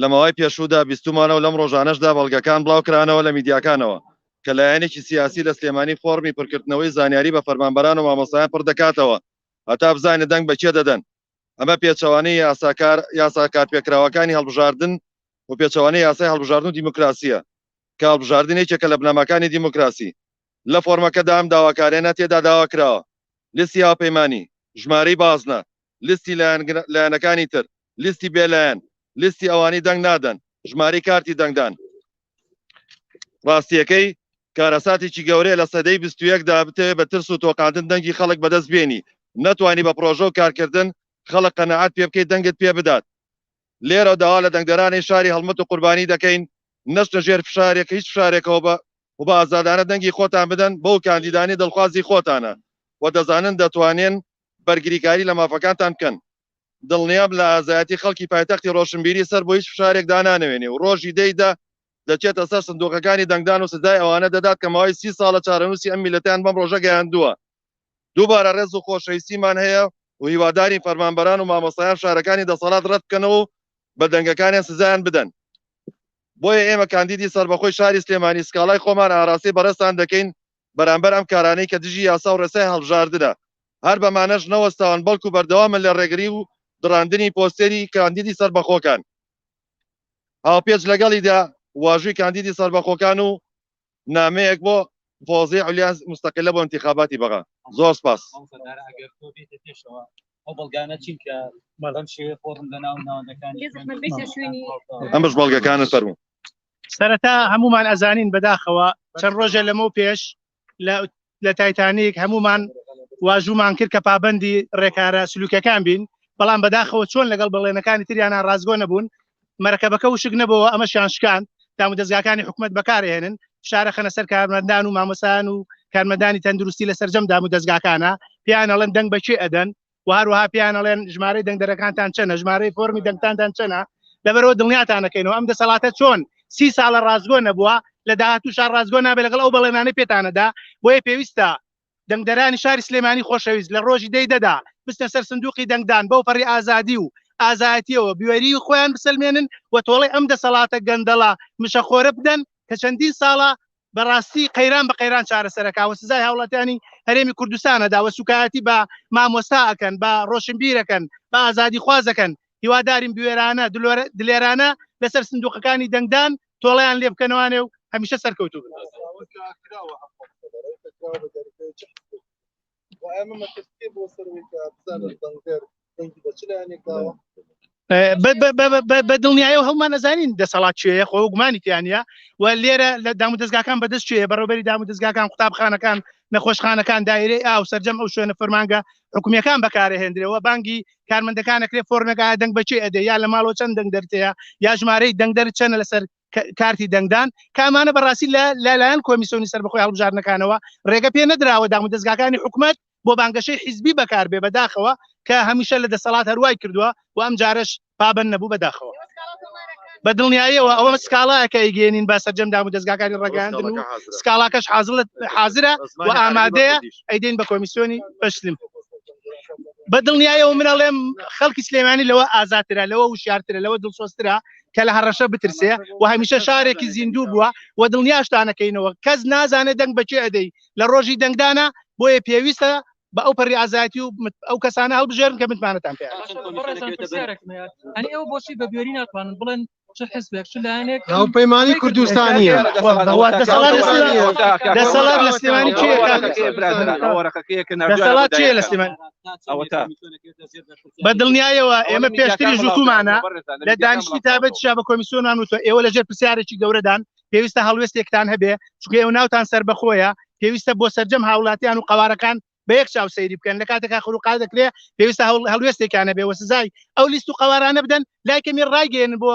لە ماوەی پێشوودا بیستوومانە و لەم ڕۆژانەشدا بەڵگەکان بڵاوکرانەوە لە میدیاکانەوە کە لایەنێکی سیاسی لە سلێمانی فۆڕمی پرکردنەوەی زانیاری بە فەرمانبەران و مامۆستایان پڕدەکاتەوە هەتا بزانێت دەنگ بە کێ دەدەن ئەمە پێچەوانەی یاساکار یاسا کارپێکراوەکانی هەڵبژاردن و پێچەوانەی یاسای هەڵبژاردن و دیموکراسیە کە هەڵبژاردن یەکێکە لە بنەماکانی دیموکراسی لە فۆرمەکەدا ئەم داواکاریانە تێدا داواکراوە لیستی هاوپەیمانی ژمارەی بازنە لیستی لایەنەکانی تر، لیستی بێ لایەن، لیستی ئەوانەی دەنگ نادەن، ژمارەی کارتی دەنگدان. ڕاستییەکەی، کارەساتێکی گەورەیە لە سەدەی بیست و یەکدا بتەوێت بە ترس و تۆقاندن دەنگی خەڵک بەدەست بێنی، نەتوانی بە پڕۆژە و کارکردن خەڵک قەناعەت پێ بکەی دەنگت پێ بدات. لێرە داوا لە دەنگدەرانی شاری هەڵمەت و قوربانی دەکەین نەچنە ژێر فشارێک هیچ فشارێکەوە و بە ئازادانە دەنگی خۆتان بدەن بەو کاندیدانەی دڵخوازی خۆتانە و دەزانن دەتوانێن بەرگریکاری لە مافەکانتان بکەن. دڵنیابن لە ئازایەتی خەڵکی پایتەختی ڕۆشنبیری سەر بۆ هیچ فشارێک دانانەوێنێ و ڕۆژی دە ی دە دەچێتە سەر سندوقەکانی دەنگدان و سزای ئەوانە دەدات کە ماوەی سی ساڵە چارەنووسی ئەم میللەتەیان بەم ڕۆژە گەیاندووە. دووبارە ڕێز و خۆشەویستیمان هەیە و هیوادارین فەرمانبەران و مامۆستایان فشارەکانی دەسەڵات ڕەت بکەنەوە و بە دەنگەکانیان سزایان بدەن. بۆیە ئێمە کاندیدی سەربەخۆی شاری سلێمانی سکاڵای خۆمان ئاراستەی بەڕێزتان دەکەین بەرامبەر ئەم کارانەی کە دژی یاسا و ڕێسای هەڵبژاردنە، هەر بەمانەش نەوەستاون بەڵکو بەردەوامن لە ڕێگری و دڕاندنی پۆستێری کاندیدی سەربەخۆکان هاوپێچ لەگەڵیدا واژووی کاندیدی سەربەخۆکان و نامەیەک بۆ فۆزی علیا مستقلە بۆ انتخاباتی بەغا زۆر سپاس ئەو بەڵگانە چین کە مەڵەم شێوێ فۆرم لە ناو ناوەندەکانی ئەمەش بەڵگەکانە فەرموو سەرەتا هەمومان ئەزانین بەداخەوە چەند ڕۆژە لەمە پێش لە تایتانیک هەمومان واژومان کرد کە پابندی ڕێکارە سلوکەکان بین بەڵام بەداخەوە چۆن لەگەڵ بەڵێنەکانی تریانە ڕازگۆ نەبوون مەرەکەبەکە وشک نەبەوە ئەمە شان شکان دام و دەستگاکانی حکوومەت بەکارهێنن شارە خەنە سەر کارمەندان و مامەسان و کارمەدانی تەندروستی لە سەررجەم دام و دەستگاکانە پیانەڵەن دەنگ بەچێ ئەدەن و هەروەها پێیان ئەڵێن ژمارەی دەنگدەرەکانتان چەنە ژمارەی فۆرمی دەنگتاندان چەنە لەبەرەوە دڵنیاتانەکەینەوە ئەم دەسەڵاتە چۆن سی ساڵە ڕازگۆ نەبووە لە داهاتوو شار ڕازگۆ نابێت لەگەڵ ئەو بەڵێنانەی پێتانەدا بۆیە پێویستە دەنگدەرانی شاری سلێمانی خۆشەویست لە ڕۆژی دەی دەدا بستە سەر سندوقی دەنگدان بەو پەڕی ئازادی و ئازایەتیەوە بوێری خۆیان بسلمێنن و تۆڵی ئەم دەسەڵاتە گەندەڵە مشەخۆرە بدەن کە چەندین ساڵە بەڕاستی قەیران بە قەیران چارەسەرەکە و سزای هاوڵاتیانی هەرێمی کوردستانە داوە سوکایەتی بە مامۆستا ئەکەن بە ڕۆشنبیرەکەن بە ئازادی خوازەکەن هیوادارین بوێرانە دلێرانە لەسەر سندوقەکانی دەنگدان تۆڵیان لێ بکەنەوانێ و هەمیشە سەرکەوتو بن بە دڵنیایەوە هەڵمان نەزانین دەسەڵات چێە خۆ گومانی تیانە و لێرە لە دام دەستگاکان بەدەست چێ بەڕۆبەری دام دەستگاکان قوتابخانەکان نەخۆشخانەکان دایرەی ئاو سرجەم ئەو شوێنە فەرمانگە حکومیەکان بەکارهێندرەوە بانگی کارمەندەکانەکرێ فۆرنەکە دەنگ بەچی ئەدە یا لە ماڵۆ چەند دەنگ دەرتەیە یا ژمارەی دەنگدەر چەنە لەسەر کارتی دەنگدان کامانە بەڕاستی لە لەلایەن کۆمیسیۆنی سەر بەخۆی هەڵبژارنەکانەوە ڕێگە پێ نەدراوە دام و دەستگاکانی حکوومەت بۆ بانگەشەی حیزبی بەکاربێ بەداخەوە کە هەمیشە لە دەسەڵات هەروای کردووە و ئەم جارش پابند نەبوو بەداخەوە بە دڵنیاییەوە ئەوە سکاڵایەکە ئیگەێنین بە سەررجەم دام و دەستگاکانی ڕگەاندن و سکاڵاکەش حازڵت حاضرە و ئامادەیە ئەیدین بە کۆمیسیۆنی بەشتن بە دڵنیایەوە منەڵێم خەڵکی سلێمانی لەوە ئازاترە لەوە وشارترە لەوە دڵسۆسترا کە لە هەڕەشە بترسێ و هەمیشە شارێکی زیندوو بووە و دڵنیاشتانەکەینەوە کەس نازانێت دەنگ بەچێ ئەدەی لە ڕۆژی دەنگدانە بۆیە پێویستە بە ئەو پەری ئازایەتی و ئەو کەسانە هەڵبژێرن کە متمانەتان پێ ئەو بۆچی بە بێری ناتوانن بڵێن ئەو پەیمانانی کوردستانیە دەسەڵات لە سلێمانی چێ لە سلێمانی بە دڵنیایەوە ئێمە پێشتری ژوتومانە لە دانیشتی تابەت شا بە کۆمیسیۆن ناموتە ئێوە لەژێر پرسیارێکی گەورەدان پێویستە هەڵوێستێکتان هەبێ چکە ئێوە ناوتان سەر بەخۆیە پێویستە بۆ سەررجەم هاوڵاتیان و قوارەکان بە یەک چاو سەیری بکەن لە کاتێکا خروقا دەکرێ پێویستە هەڵوێستێکانە بێ وە سزای ئەو لیست و قوارانە بدەن لایکەمی ڕایگەێن بۆ